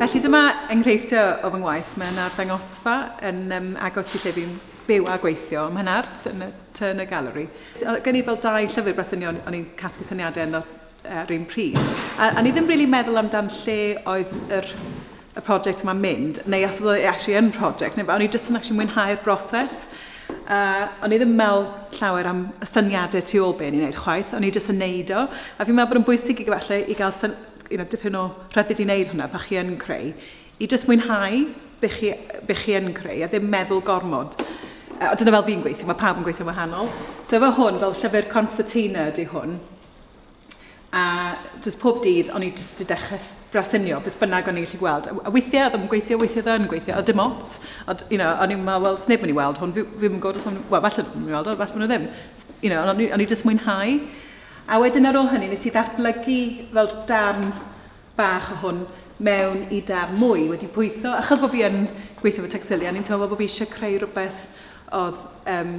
Felly dyma enghreifftiau o fy ngwaith. Mae yna arddangosfa yn um, agos i lle fi'n byw a gweithio ym Mhenarth yn y Turner Gallery. Gen i fel dau llyfr bresynio o'n i'n casglu syniadau ynddo ar un pryd. A, a ni ddim really meddwl amdan lle oedd yr, y prosiect yma'n mynd, neu os oedd e actually yn prosiect, neu o'n i jyst yn actually mwynhau'r broses. Uh, o'n i ddim meddwl llawer am y syniadau tu ôl be ni'n gwneud chwaith, o'n i jyst yn neud o. A fi'n meddwl bod yn bwysig i gyfalle i gael syn, you know, dipyn o rhyddid i wneud hwnna pa chi yn creu. I jyst mwynhau be chi, be chi yn creu a ddim meddwl gormod. Uh, dyna fel fi'n gweithio, mae pawb yn gweithio'n wahanol. So fe hwn, fel llyfr concertina ydy hwn, A jyst pob dydd, o'n i jyst 'di dechrau s- brasynio beth bynnag o'n i'n gallu gweld. A w- a weithiau oedd e ddim yn gweithio, weithiau oedd e yn gweithio, oedd dim ots. Ond, you know, o'n i'n meddwl, wel, 's neb yn mynd i weld hwn, fi fi ddim yn gwybod os maen nhw... wel, falle bod nhw'n mynd i weld o, falle bod nhw ddim. S- You know, ond o'n i o'n i jyst mwynhau. A wedyn ar ôl hynny, wnes i ddatblygu fel darn bach o hwn mewn i darn mwy, wedi pwytho. Achos bod fi yn gweithio efo Textilia, o'n i'n teimlo fel bod fi eisiau creu rhywbeth oedd yym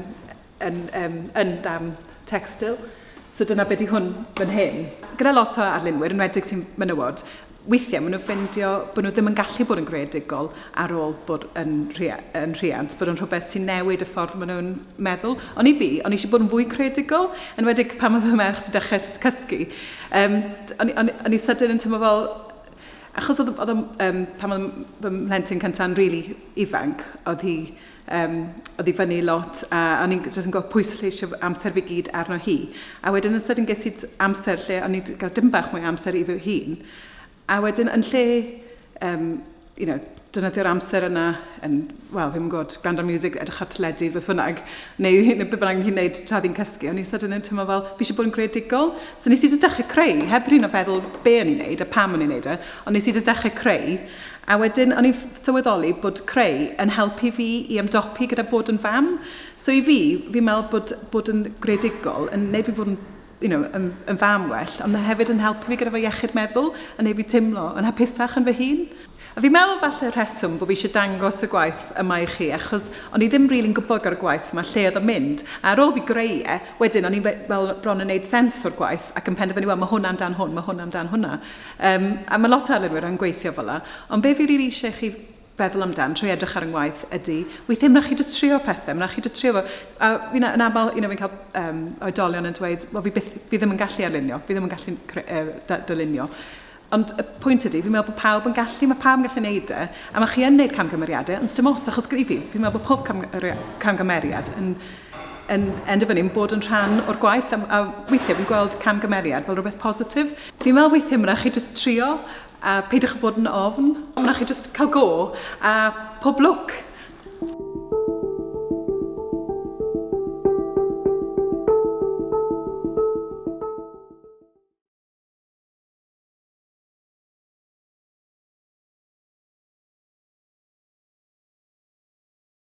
yn um, yn darn textil. So dyna beth i hwn fan hyn. Gyda lot o arlunwyr, yn wedig ti'n menywod, weithiau maen nhw'n ffeindio bod nhw ddim yn gallu bod yn greadigol ar ôl bod yn, rhia, yn rhiant, bod yn rhywbeth sy'n newid y ffordd maen nhw'n meddwl. Ond i fi, o'n eisiau bod yn fwy creadigol, yn wedi pan oedd y merch wedi dechrau cysgu. Um, o'n, o'n, o'n i sydyn yn tymor fel, achos oedd, oedd um, pan oedd fy mhlentyn cynta'n rili really ifanc, oedd hi um, oedd i fyny lot a o'n i'n jyst yn gweld pwysleisio amser fi gyd arno hi. A wedyn yn sydyn ges i amser lle o'n i'n cael dim bach mwy amser i fy hun. A wedyn yn lle, um, you know, dynyddio'r amser yna yn, wel, ddim yn gwybod, gwrando music, edrych at ledu, beth bynnag, neu hyn, beth bynnag hi'n gwneud tra ddi'n cysgu, o'n i'n sydyn yn teimlo fel, fi eisiau bod yn greadigol. So nes i ddechrau creu, heb rhywun o feddwl be o'n i'n gwneud a pam o'n i'n gwneud e, ond nes i ddechrau creu, A wedyn o'n i'n sylweddoli bod creu yn helpu fi i ymdopi gyda bod yn fam. So i fi, fi'n meddwl bod bod yn greadigol yn neud fi fod yn you know, yn, yn fam well, ond hefyd yn helpu fi gyda fy iechyd meddwl, yn neud fi teimlo yn hapusach yn fy hun. A fi'n meddwl falle rheswm bod fi eisiau dangos y gwaith yma i chi, achos o'n i ddim rili'n gwybod gyda'r gwaith yma lle oedd o'n mynd. A ar ôl fi greu e, wedyn o'n i'n fel bron yn neud sens o'r gwaith ac yn penderfynu, wel, mae hwn amdan hwn, mae hwn amdan hwnna. Yym, a ma' lot o arlunwyr yn gweithio fela. Ond be' fi rili isie chi feddwl amdan trwy edrych ar 'y ngwaith ydi, weithie ma' rai' chi jyst trio pethe, ma' rai' chi jyst trio fo. A fi'n a- yn amal, you know, fi'n ca'l yym oedolion yn dweud, wel fi byth, fi ddim yn gallu arlunio, fi ddim yn gallu cre- yy da- dylunio. Ond y pwynt ydi, fi'n me'wl bo' pawb yn gallu, ma' pawb yn gallu neud e, a ma' chi yn neud camgymeriade, ond sdim ots, achos i fi, fi'n me'wl bo' pob cam- yre- camgymeriad yn yn endio fyny yn bod yn rhan o'r gwaith, a m- a weithie fi'n gweld camgymeriad fel rwbeth positif. Fi'n meddwl weithiau ma' 'na chi jyst trio a peidiwch â bod yn ofn. Ma' 'na chi jyst cael go a pob lwc!